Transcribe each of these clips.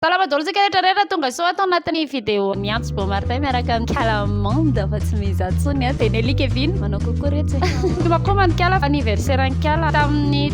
Salama daholo tsika rehetra rehetra tonga soa ato anatin'ny vidéo ny Antso Beau Martin miaraka amin'ny Calamande fa tsy mizaha tsony a dia Nelly Kevin manao coucou retsy Tomakoma ny Kala anniversaire ny Kala tamin'ny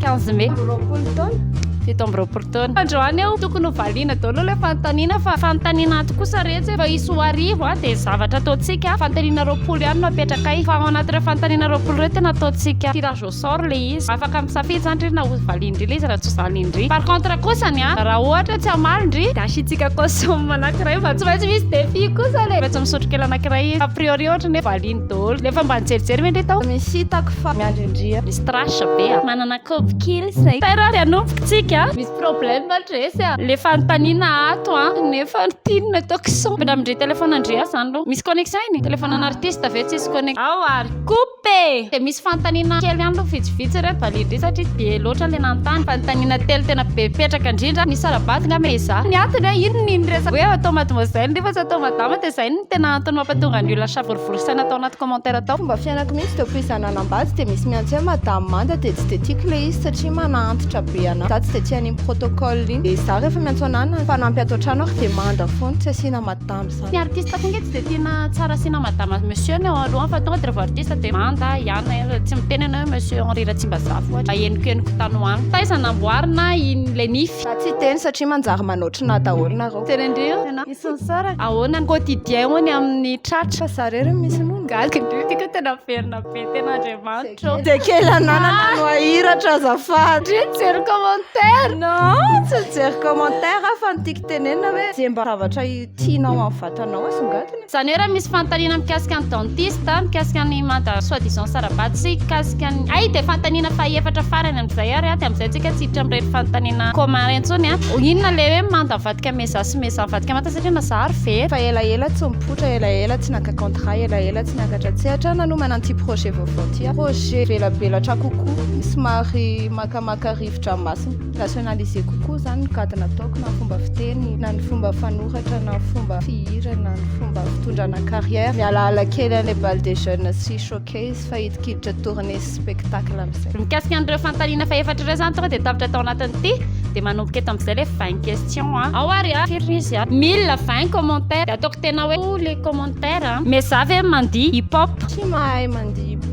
15 mai roapolo taona fito amby roapolo taona androany eo tokony ho valiana daholo ilay fanontaniana fa fanontaniana ato kosa retsy fa hisy ho arivo a dia zavatra ataontsika fanontaniana roapolo ihany no apetraka fa ao anatin'ireo fanontaniana roapolo ireo tena ataontsika tirage sort le izy afaka misafidy zany ndry na hovaliany ndry le izy raha tsy hovaliany ndry par contre kosa ny an raha ohatra tsy hamaly ndry dia asiantsika caution anankiray fa tsy maintsy misy défi kosa le maintsy misotro kely anankiray izy a priori ohatra ny hoe valiany daholo le efa mba nijerijery ve ndry tao misy hitako fa miandry ndry a misy trash be a manana kaopy kely izay tera ary hanombokintsika a misy problème ndry se a le fanontaniana ato an nefa ny pin no ataoko son ampiramindry téléphone ndry a zany aloha misy connexion iny téléphone an'artiste ve tsisy connexion ao ary coup P! Dia misy fanontaniana kely ihany aloha vitsivitsy re validé satria be loatra ilay nanontany. Fanontaniana telo tena be petraka indrindra. Misy sara-bato nga mais izaho. Ny antony hoe inona iny resaka hoe atao mademoiselle nefa tsy atao madama dia izay no tena antony mampatonga ny olona savorovoro saina tao anaty commentaire tao. Fomba fiainako mihitsy dia koa izaho nanambady dia misy miantso hoe madame manda dia tsy dia tiako ilay izy satria manaantitra be anahy. Izaho tsy dia tia an'iny protocole iny. Dia izaho rehefa miantso anahy na mpanampy ato an-trano ary dia manda foana tsy asiana madame. Ny artiste koa nge tsy dia tiana tsara asiana madame sy monsieur ny ao alohany fa tonga dia rehefa artiste dia manda ihany hoe tsy miteny ianao hoe monsieur Henri Ratsimbazafy ohatra mba henoko-henoko tany ho any. Taiza namboarina iny ilay nify? Za tsy teny satria manjary manao otrona daholo nareo. Tena indreo ianao. Isan'ny sara. Ahoana ny quotidien ho any amin'ny tratra? Fa za re no misy nono. Gaga indreo ity ka tena miverina be tena Andriamanitra ô. Dia kely ananana no ahiratra azafady. Ndry mijery commentaire. Non, tsy mijery commentaire aho fa ny tiako tenenina hoe dia mba zavatra Tianao amin'ny vatanao asongadina? Izany hoe raha misy fanontaniana mikasika ny dentiste, mikasika ny manta soit disant sara-bady sy mikasika ny hay dia fanontaniana faha efatra farany amin'izay ary dia amin'izay tsika tsy hiditra amin'ireny fanontaniana commun ireny intsony an! Inona ilay hoe manta mivadika mezaha sy mezaha mivadika manta satria mazaha ary very? Efa elaela tsy mipoitra, elaela tsy naka contrat, elaela tsy niakatra an-tsehatra, nanomana an'ity projet vaovao ity aho. Projet velabelatra kokoa, somary makamaka rivo-dranomasina. Rationaliser kokoa izany ny gadona ataoko na ny fomba fiteny na ny fomba fanoratra na ny fomba fihira na ny fomba fitondrana carrière. Mialaala kely an'ilay bal des jeunes sy showcase fa hidikiditra tournée sy spectacle amin'izay. Mikasika an'ireo fanontaniana fahefatra ireo izany tonga dia tapitra tao anatin'ity dia manomboka eto amin'izay ilay vingt questions an. Ao ary an, firy izy an? Mille vingt commentaires dia ataoko tena hoe les commentaires an. Mais za ve mandihy hip hop? Tsy mahay mandihy hip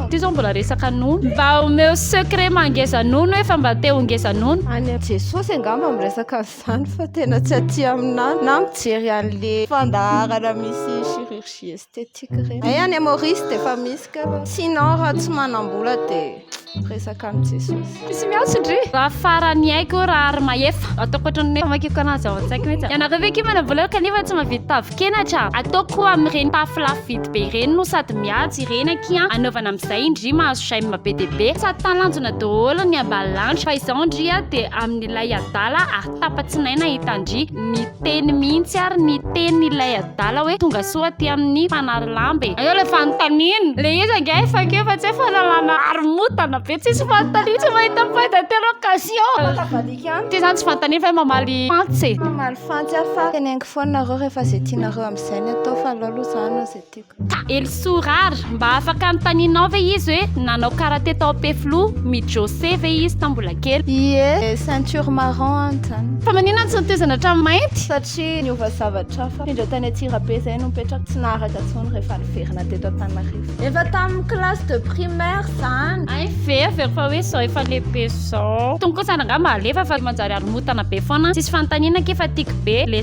Ity zao mbola resaka nono. Mba omeo secret maha ngeza nono hoe fa mba te ho ngeza nono. Any amin'i Jesosy angamba miresaka an'izany fa tena tsy aty aminay na mijery an'le fandaharana misy chirurgie esthétique ireny. Hay any Maurice dia efa misy kay fa sinon raha tsy manam-bola dia. Resaka amin'i Jesosy. Tsy miantso ndry. Raha faran'ny aiko hoe raha ary mahefa. Ataoko ohatran'ny famakiko anazy ao an-tsaiko mihitsy. Ianareo ve kima namboleko kanefa tsy mahavita tavin-kenatra? Ataoko koa amin'ireny tafo lafo vidy be ireny no sady mihaja ireny akia an. Anaovana amin'izay indry mahazo j'aime be dia be. Sady talanjona daholo ny ambany lanitra. Fa izaho ndry dia amin'ilay adala ary. Tapa-tsinaina i Tandria, niteny mihitsy ary ny tenin'ilay adala hoe tonga soa aty amin'ny Fanary lamba e! Eo ilay fanontaniana, ilay izy ange efa keo fa tsy hoe fanalana haromotana be, tsisy fanontaniana, tsy mahita point d'interrogation! Afaka avadika amiko. Ty izany tsy fanontaniana fa hoe mamaly fantsy e! Mamaly fantsy aho fa teneniko foana nareo rehefa izay tianareo amin'izay ny atao fa aleo aloha izaho hanao izay tiako. Elisoa rar, mba afaka anontanianao ve izy hoe nanao karate tao Ampefiloha, mi-jose ve izy tao mbola kely? Ie, ceinture marron any zany. Fa manina tsy notezana hatramin'ny mainty? Satria niova zavatra hafa. Indreo tany Antsirabe zay no mipetraka tsy naharaka tsony rehefa niverina teto Antananarivo. Efa tamin'ny classe de primaire zany. Hay ve avy eo fa hoe zao efa lehibe zao. Tony kosa angaha mba alefa fa manjary haromotana be foana. Tsisy fanontaniana akia fa tiako be le.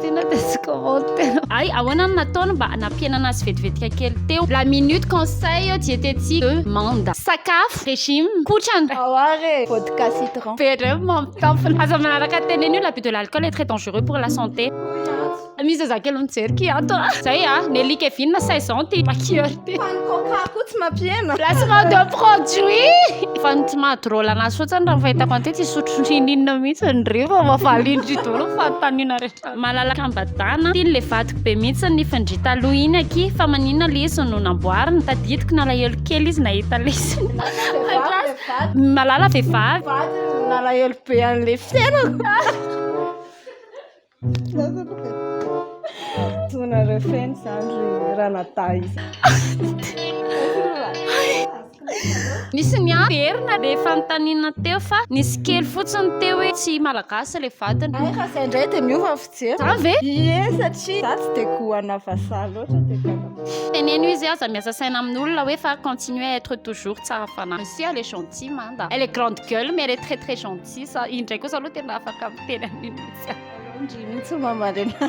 Tena dia tsy commentaire. Ay, ahoana no nataony mba nampihenana azy vetivetika kely teo? La minute conseil diététique de manda. Sakafo, régime, kotrana. Ao ary e, vodka citron. Be indray ny mampitampina. Aza manaraka teny an'io, l'abus de l'alcool est très dangereux pour la santé. Misy zazakely mijery kiato a! Zay a! Nelly Kevin, 16 ans, ty Makieur. Fany coca koa tsy mampihena. Placement de produit. Fany tsy madrôla anazy fotsiny raha fahitako an'ity tsy sotro ninina mihitsy ny reo fa mavalindry dolo fanontaniana rehetra. Malalaka am-badana. Tiny le vadiko be mihitsy ny fandria taloha iny aky fa maninona le izy no namboarina. Tadidiko nalahelo kely izy nahita le izy. Malala vehivavy. Vadiny nalahelo be an'le fiainako. Tonareo feno izany ry ranadahy Nisy niverina dia efa notanina teo fa nisy kely fotsiny teo hoe tsy malagasy ilay vadiny. Ay fa izay indray dia miova fijery. Zany ve? Ie satria za tsy dia goana vazaha loatra dia gaga. Teneno izy aza miasa saina amin'olona hoe fa continuer à être toujours tsara fanahy. Merci elle est gentille manda. Elle est grande gueule mais elle est très très gentille. Za indray kosa aloha tena afaka miteny an'iny mihitsy.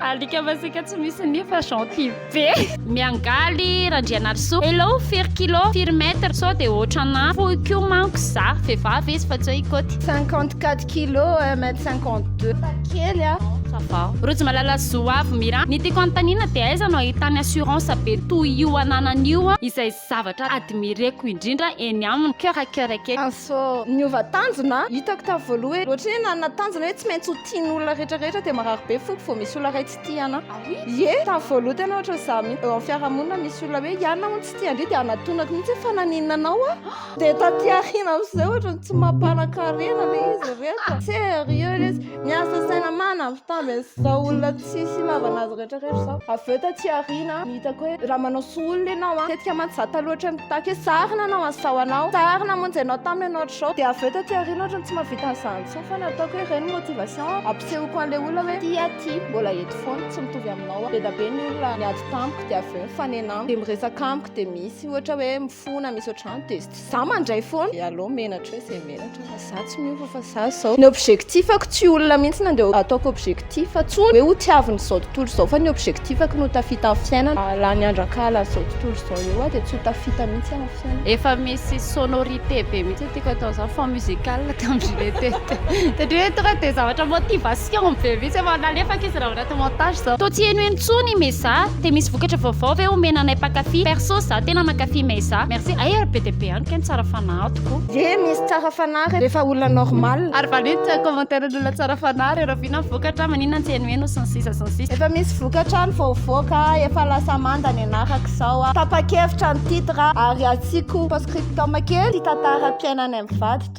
Alika masika tsy misy nia fa gentil be. Miangaly Randrianarisoa. Hello firy kilo, firy mètre sao dia ohatranà fohy koa manko za. Vehivavy izy fa tsy hoe i Koty. Cinquante quatre kilo, un mètre cinquante deux. Fa kely a. Ça va. Rojimalala Zoavy Mira. Ny tiako anontaniana dia aiza no ahitany assurance be toy io ananany io izay Zavatra admireko indrindra eny aminy keo ra keo ra kely. Anso niova tanjona a! Hitako tamin'ny voaloha hoe ohatry ny hoe nanana tanjona hoe tsy maintsy ho tian'ny olona rehetra rehetra dia marary be foko vao misy olona iray tsy tia anà. Ah oui? Ie, tamin'ny voaloha tena ohatry ny za mihitsy. Eo amin'ny fiarahamonina misy olona hoe ianona hono tsy tia an-dry dia anatonako mihitsy hoe fa naninona anao aho? Dia taty aoriana amin'izay ohatry ny tsy mampanan-karena ilay izy ireto. Serieux ilay izy. Miasa saina manampy tamby an'izao olona. Tsisy ilavana azy rehetra rehetra izao. Avy eo taty aoriana no hitako hoe raha manao soa olona ianao an, tetika mantsy izaho taloha ohatran'ny mpitaky hoe sarona ianao an, izao anao, sarona hamonjy anao taminy ianao hatrizao, dia avy eo taty aoriana ohatran'ny tsy mahavita an'izany intsony foana ataoko hoe ireny motivation ampisehoako an'ilay olona hoe ity aho ity, mbola eto foana, tsy mitovy aminao aho. Be dia be ny olona niady tamiko dia avy eo mifanena amiko, dia miresaka amiko dia misy ohatra hoe mifona, misy ohatran'izany dia. Za mandray foana. Eh allo menatra hoe ze menatra fa za tsy miova fa za zao. Ny objectifako tsy olona mihitsy nandeha ataoko objectif tsony hoe ho tiaviny zao tontolo zao fa ny objectifako no tafita amin'ny fiainana. Lany andro ankahala an'izao tontolo zao eo aho dia tsy ho tafita mihitsy amin'ny fiainana. Efa misy sonorité be mihitsy ny tiako atao zany fond musical tam je l'ai teste satria hoe tonga dia zavatra motivation be mihitsy efa nalefako izy raha vao. montage zao. Toa tsy heno eny tsony i Meza Dia misy vokatra vaovao ve omena anay mpankafy Perso za tena mankafy Meza Merci Ay ary be dia be any kay ny tsara fanahy tokoa. Ye misy tsara fanahy re refa olona normal. Ary valio ny commentaire ny olona tsara fanahy re Raviana ny vokatra maninona tsy henoheno sy ny sisa sy ny sisa. Efa misy vokatra any vao hivoaka a Efa lasa manda ny anarako izao a Tapa-kevitra ny titre a Ary asiako post-scriptum kely Tia tantara-piainanay mivady toa.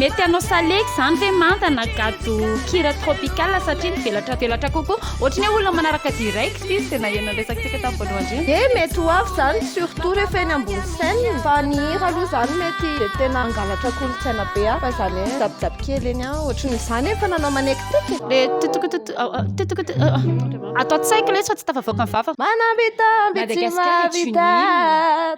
Mety hanao salegy izany ve manda na gado kira tropical satria mivelatra velatra kokoa. Ohatry ny hoe olona manaraka direct izy izay naheno ny resakintsika tamin'ny voalohany indrindra. Dia mety ho avy izany surtout rehefa eny ambony scène. Fa ny hira aloha izany mety dia tena hangalatra kolontsaina be hafa izany hoe mijabojabo kely eny an. Ohatry ny izany efa nanao manekiteky. Le tutukututu oh oh tutukutu oh oh ato an-tsaiko ilay izy fa tsy tafavoaka ny vavako. Manam-bitamby tsy mahavita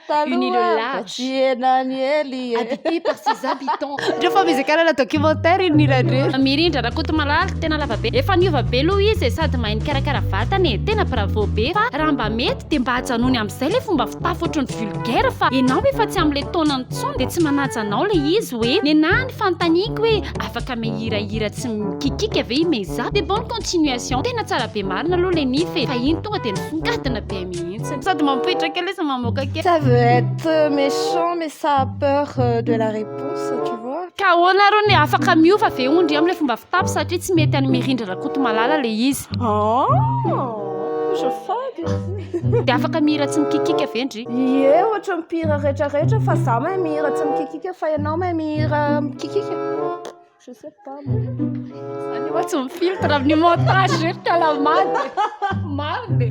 taloha. Unis le large. Tiena an'i Ely e. Habité par ses habitants. Ndreo fa mizaka hanana documentaire iny hira ndreo. Mirindra Rakotomalala tena lava be efa niova be aloha izy e sady mahay mikarakara vatana e tena bravo be fa raha mba mety dia mba ajanony amin'izay ilay fomba fitafy ohatran'ny vulgaire fa ianao efa tsy amin'ilay taonany intsony dia tsy manaja anao ilay izy hoe nenaha ny fanontaniako hoe afaka mihira hira tsy mikikika ve i Meiza? Des bonnes continuations tena tsara be marina aloha ilay nify e fa iny tonga dia nisongadina be mihitsy. Sady mampitraka kely izy mamoaka kely. Ça veut être méchant mais ça a peur euh, de la réponse, tu vois. Ka ahoana arô ny afaka miova ve ondry amin'ilay fomba fitapy satria tsy mety an'i Mirindra Rakotomalala ilay izy. Oh, je fady. Dia afaka mihira tsy mikikika ve ndry? Ie, ohatra mpihira rehetra rehetra fa za mahay mihira tsy mikikika fa ianao mahay mihira mikikika. Je sais pas moi. Any hoa tsy mifiltre amin'ny montage ry kalamady. Marina e.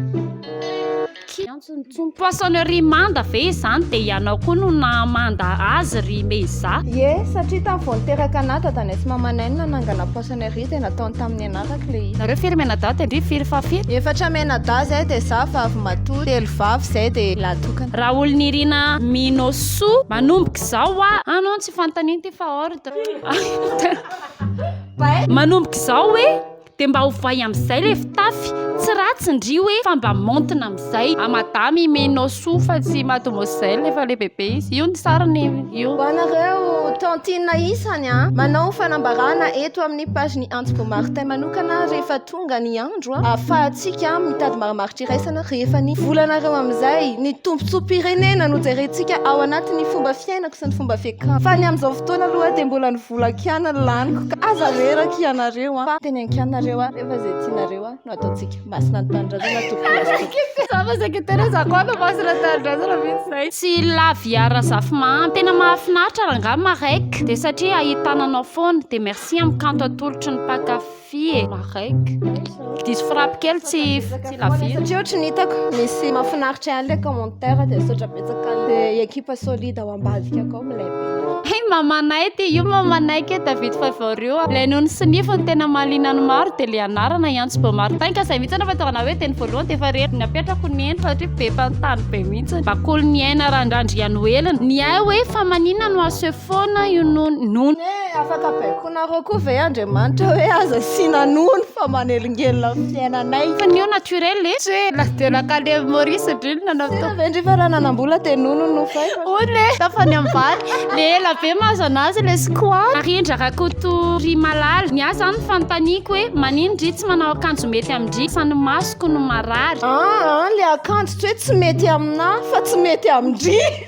Ny poissonnerie manda ve izany dia ianao koa no nahamanda azy ry Meiza? Ie, satria tamin'ny vao niteraka anà dadanay sy mamanay no nanangana poissonnerie dia nataony tamin'ny anarako ilay izy. Nareo firy mianadahy teo ndry? Firy fahafito? Efatra mianadahy izay dia izaho vavy matoa, telo vavy izay dia lahy tokana. Raolinirina Minosoa, manomboka izao hoa. An non tsy fanontaniana ity fa hors de. Manomboka izao hoe dia mba hovay amin'izay ilay fitafy, tsy ratsy ndry hoe fa mba maontina amin'izay. A madame imenao soa fa tsy mademoiselle efa lehibebe izy. Io ny sariny io. Ho anareo tantine isany an! Manao fanambarana eto amin'ny page-ny Antoko Martin manokana rehefa tonga ny andro ahafahantsika mitady maramaritra iraisana rehefa ny volanareo amin'izay ny tombontsoam-pirenena no jerentsika ao anatin'ny fomba fiainako sy ny fomba fiakanako fa ny amin'izao fotoana aloha dia mbola ny vola kiana no laniko ka aza reraka ianareo fa teny an-kianareo rehefa izay tianareo no ataontsika masina ny tanindrazana tompoko tsy laviara zafimahandy tena mahafinaritra rangahy marek dia satria ahitana anao foana dia merci amin'ny kanto atolotry ny mpakafy Fy e! Mareck. Diso frappe kely tsy tsy lavire. Satria ohatry ny hitako misy mahafinaritra ihany le commentaire dia misaotra betsaka le ekipa solide ao ambadika akao milay be. Hey mamanay ty io mamanay ke David Favor io. Ilay noho ny sinify ny tena mahaliana ny maro dia le anarana i Antso Beaumartin ka izay mihitsy anefa tena hoe teny voalohany dia efa reriny apetrako ny eny satria be fanontany be mihitsy. Bakolo ny aina randrandrian'oelina. Ny ahy hoe fa manina no asefoana io nono. Nono. Hoe afaka baiko. Ataonareo koa ve Andriamanitra hoe aza asiana nono fa manelingelina ny fiainanay? Fa ny io naturel e! Tsy hoe la de la kalem Maurice ndry no nanao teo. Tena ve ndry fa raha nanambola dia nono no nofaiko? Hoy le tapany ambany, le ela be mahazo anazy le squat. Narindra Rakotorimalala, ny ahy izany fanontaniako hoe maninn ndry tsy manao akanjo mety amin-dry sa ny masoko no marary? An an, le akanjo tsy hoe tsy mety aminà fa tsy mety amin-dry.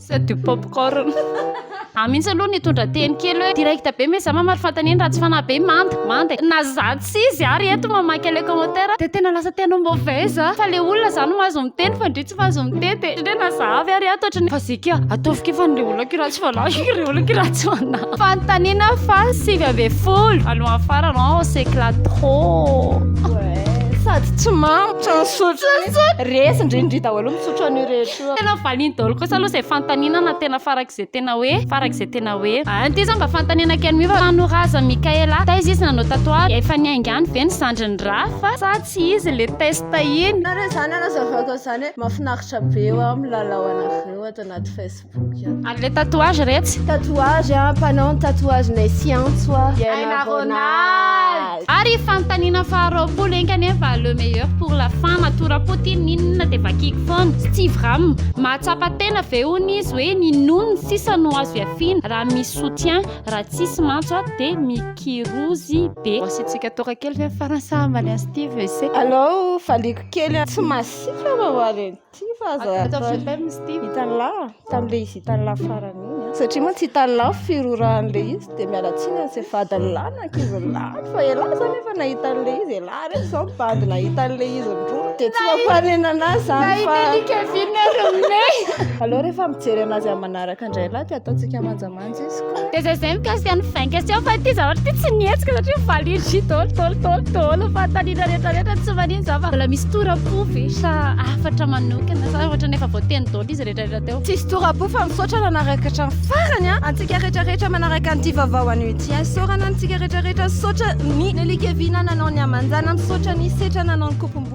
C'est du popcorn. Ah mintsy aloha nitondra teny kely hoe direct be mais za mamaly fanontaniana raha tsy fanahy be manda manda na za tsy izy ary eto mamaky an'ilay commentaire dia tena lasa tena mauvaise a fa le olona za no mahazo miteny fa ndry tsy mahazo miteny dia ndry na za avy ary ato ohatran'ny fazika ataovy kely fa an'ilay olona kely raha tsy fanahy ilay olona kely raha tsy fanahy fanontaniana fa sivy ambin'ny folo alohan'ny farany an on s'éclate trop sady tsy mamy. Tsy misotro. Resy ndrindry daholo misotro an'io rehetra. Tena valiany daholo kosa aloha izay fanontaniana na tena farak'izay tena hoe farak'izay tena hoe a. Any ty zah mba fanontaniana kely mi fa trano razan'i Mickaël a taiza izy nanao tatouage? Efa niainga any ve ny zandriny Raph sa tsy izy le test iny? Nareo izany hanazavako an'izany hoe mahafinaritra be ho'a ny milalao anareo ato anaty Facebook ato. Ary le tatouage retsy? Tatouage a, mpanao ny tatouage-nay sy antso a. Aina Ronald. Ary fanontaniana faha roapolo enga anie fa le meilleur pour la fin matoa rapotin inona dia vakiko foana tsy tsy vram mahatsapa tena ve hono izy hoe ny nony sisa no azo ihafiana raha misy soutien raha tsisy mantsy a dia mikirozy be. Asiantsika toaka kely ve ny faran'ny sahambany an'i Steve ese. Alou valiako kely tsy masiaka vava reny. Tsia fa aza hitan'la tamin'ilay izy hitan'la farany iny a. Satria mantsy hitan'la ny firorahan'ilay izy dia miala tsiny an'izay vadiny lahy na ankizy lahy fa elah izany efa nahita an'ilay izy, elah reto izao mivady nahita an'ilay izy nirora dia tsy mampanenana azy izany fa. Nahitan'i Kevin ry Mme. Aleo rehefa mijery an'azy amin'ny manaraka indray lahy dia ataontsika manja. Dia zay zay mikasika ny vain question fa ity zavatra ity tsy nihetsika satria valin jus daholo daholo daholo daholo fanontaniana rehetra rehetra tsy manino za fa mbola misy toram-po ve sa hafatra manokana sa ohatrany efa voateny daholo izy rehetra rehetra teo. Tsisy toram-po fa misaotra nanaraka hatramin'ny farany an! Antsika rehetra rehetra manaraka an'ity vaovao anio ity an! Isaorana antsika rehetra rehetra, misaotra ny Nelly Kevina nanao ny aman-janany, misaotra ny Setra nanao ny kopim-bolo.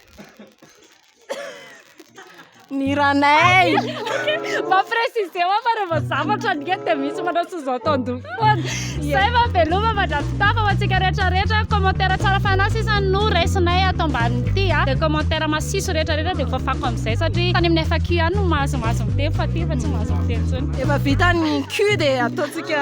Ny ranay Mba préciser hoa fa rehefa zavatra ny dia misy manao sous entendu foana Zay mba veloma mandrafitafa ho antsika rehetra rehetra Commentaire tsara fanahy sisa no raisinay ato ambanin'ity a Dia commentaire masiso rehetra rehetra dia voafako amin'izay satria tany amin'ny FAQ ihany no mahazo mahazo miteny fa aty efa tsy mahazo miteny intsony Efa vita ny Q dia ataontsika